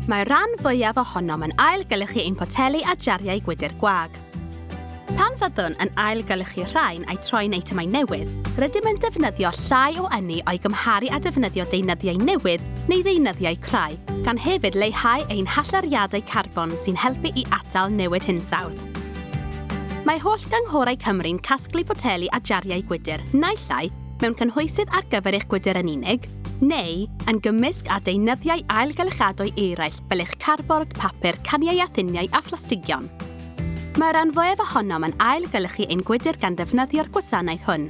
Mae rhan fwyaf ohonom yn ailgylchu ein poteli a jariau gwydr gwag. Pan fyddwn yn ailgylchu rhain a'i troi'n eitemau newydd, rydym yn defnyddio llai o ynni o'i gymharu â defnyddio deunyddiau newydd neu ddeunyddiau crai, gan hefyd leihau ein hallyriadau carbon sy'n helpu i atal newid hinsawdd. Mae holl gynghorau Cymru'n casglu poteli a jariau gwydr, naill ai, mewn cynhwysydd ar gyfer eich gwydr yn unig, neu yn gymysg â deunyddiau ailgylchadwy eraill fel eich cardbord, papur, caniau a thuniau a phlastigion. Mae'r rhan fwyaf ohonom yn ailgylchu ein gwydr gan ddefnyddio'r gwasanaeth hwn.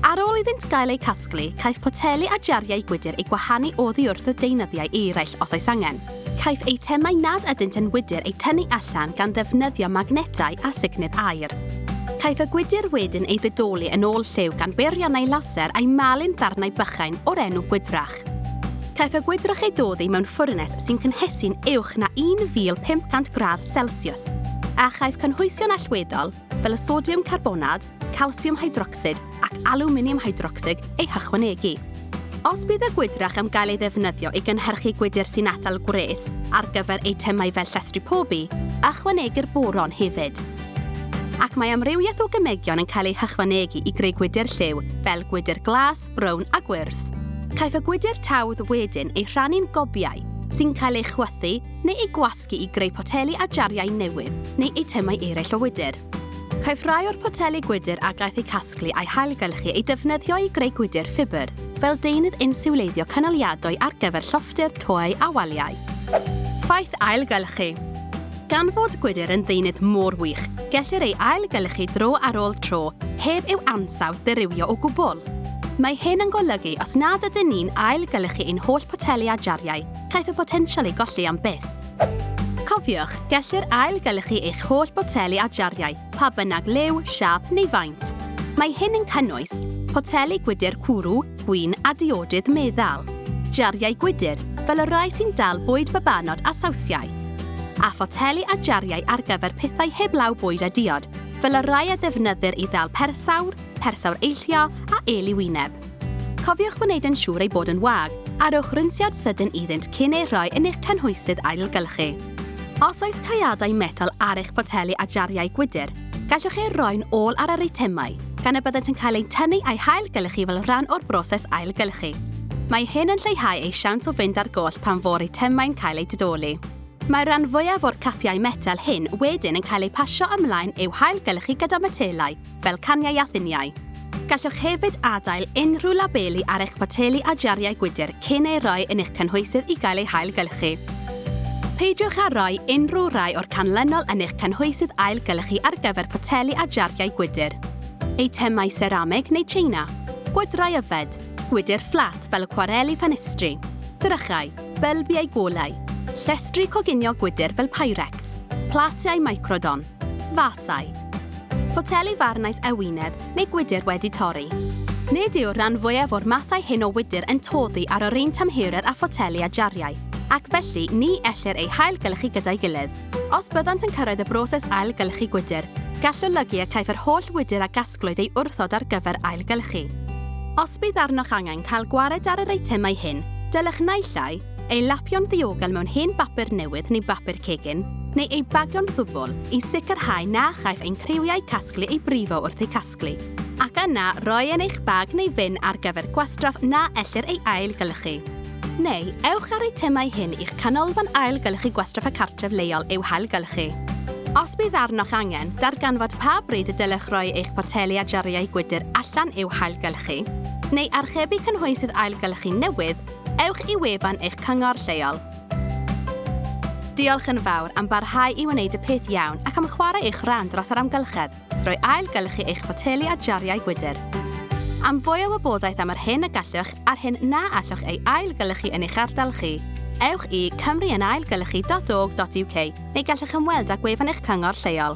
Ar ôl iddynt gael eu casglu, caiff poteli a jariau gwydr eu gwahanu oddi wrth y deunyddiau eraill os oes angen. Caiff eitemau nad ydynt yn wydr eu tynnu allan gan ddefnyddio magnetau a sugnydd aer. Caiff y gwydr wedyn ei ddidoli yn ôl lliw gan beiriannau laser a'i malu'n ddarnau bychain o'r enw gwydrach. Caiff y gwydrach ei doddi mewn ffwrnes sy'n cynhesu'n uwch na 1,500 gradd Celsiws, a chaiff cynhwysion allweddol, fel y sodiwm carbonad, calsiwm hydrocsid ac alwminiwm hydrocsid eu hychwanegu. Os bydd y gwydrach am gael ei ddefnyddio i gynhyrchu gwydr sy'n atal gwres ar gyfer eitemau fel llestri pobi, ychwanegir boron hefyd. Ac mae amrywiaeth o gymegion yn cael eu hychwanegu i greu gwydr lliw, fel gwydr glas, brown a gwyrdd. Caiff y gwydr tawdd wedyn ei rhannu'n gobiau, sy'n cael eu chwythu neu eu gwasgu dysgu i greu poteli a jariau newydd, neu eitemau eraill o wydr. Caiff rhai o'r poteli gwydr a gaiff eu casglu a'u hailgylchu eu defnyddio i greu gwydr ffibr, fel deunydd insiwleiddio cynaliadwy ar gyfer llofftydd, toeau a waliau. Ffaith ailgylchu Gan fod gwydr yn ddeunydd mor wych, gellir ei ailgylchu dro ar ôl tro heb i'w ansawdd ddirywio o gwbl. Mae hyn yn golygu os nad ydyn ni'n ailgylchu ein holl boteli a jariau, caiff y potensial ei golli am byth. Cofiwch, gellir ailgylchu eich holl boteli a jariau, pa bynnag liw, siâp neu faint. Mae hyn yn cynnwys poteli gwydr cwrw, gwin a diodydd meddal, jariau gwydr, fel y rai sy'n dal bwyd babanod a sawsiau, a photeli a jariau ar gyfer pethau heblaw bwyd a diod, fel y rai a ddefnyddir i ddal persawr, persawr eillio a eli wyneb. Cofiwch wneud yn siŵr ei bod yn wag, a rhowch rinsiad sydyn iddynt cyn ei rhoi yn eich cynhwysydd ailgylchu. Os oes caeadau metel ar eich poteli a jariau gwydr, gallwch eu rhoi'n ôl ar yr eitemau, gan y byddant yn cael eu tynnu a'u hailgylchu fel rhan o'r broses ailgylchu. Mae hyn yn lleihau eu siawns o fynd ar goll pan fo'r eitemau'n cael eu didoli. Mae'r rhan fwyaf o'r capiau metel hyn wedyn yn cael eu pasio ymlaen i'w hailgylchu gyda metelau. fel caniau a thuniau. Gallwch hefyd adael unrhyw labeli ar eich poteli a jariau gwydr cyn eu rhoi yn eich cynhwysydd i gael eu hailgylchu. Peidiwch â rhoi unrhyw rai o'r canlynol yn eich cynhwysydd ailgylchu ar gyfer poteli a jariau gwydr. Eitemau serameg neu tsieina, gwydrau yfed, gwydr fflat fel y cwareli ffenestri, drychau, bylbiau golau, llestri coginio gwydr fel Pyrex, platiau Microdon, Fasai. Poteli farnais ewinedd neu gwydr wedi torri. Nid yw'r rhan fwyaf o'r mathau hyn o wydr yn toddi ar yr un tymheredd â photeli a jariau, ac felly ni ellir eu hailgylchu gyda'i gilydd. Os byddant yn cyrraedd y broses ailgylchu gwydr, gall olygu y caiff yr holl wydr a gasglwyd ei wrthod ar gyfer ailgylchu. Os bydd arnoch angen cael gwared ar yr eitemau hyn, dylech naill ai, ei lapio'n ddiogel mewn hen bapur newydd neu bapur cegin, neu ei bagio'n ddwbl i sicrhau na chaiff ein criwiau casglu eu brifo wrth eu casglu, ac yna roi yn eich bag neu fyn ar gyfer gwastraff na ellir ei ail-gylchu. Neu, ewch â'r eitemau hyn i'ch canolfan ail-gylchu gwastraff y cartref leol i'w hail-gylchu. Os bydd arnoch angen darganfod pa bryd y dylech roi eich poteli a jariau gwydr allan i'w hail-gylchu, neu archebu cynhwysydd ail-gylchu newydd, Ewch i wefan eich cyngor lleol. Diolch yn fawr am barhau i wneud y peth iawn ac am chwarae eich rhan dros yr amgylchedd drwy ailgylchu eich poteli a jariau gwydr. Am fwy o wybodaeth am yr hyn y gallwch a'r hyn na allwch ei ailgylchu yn eich ardal chi, ewch i cymruynailgylchu.org.uk neu gallwch ymweld â gwefan eich cyngor lleol.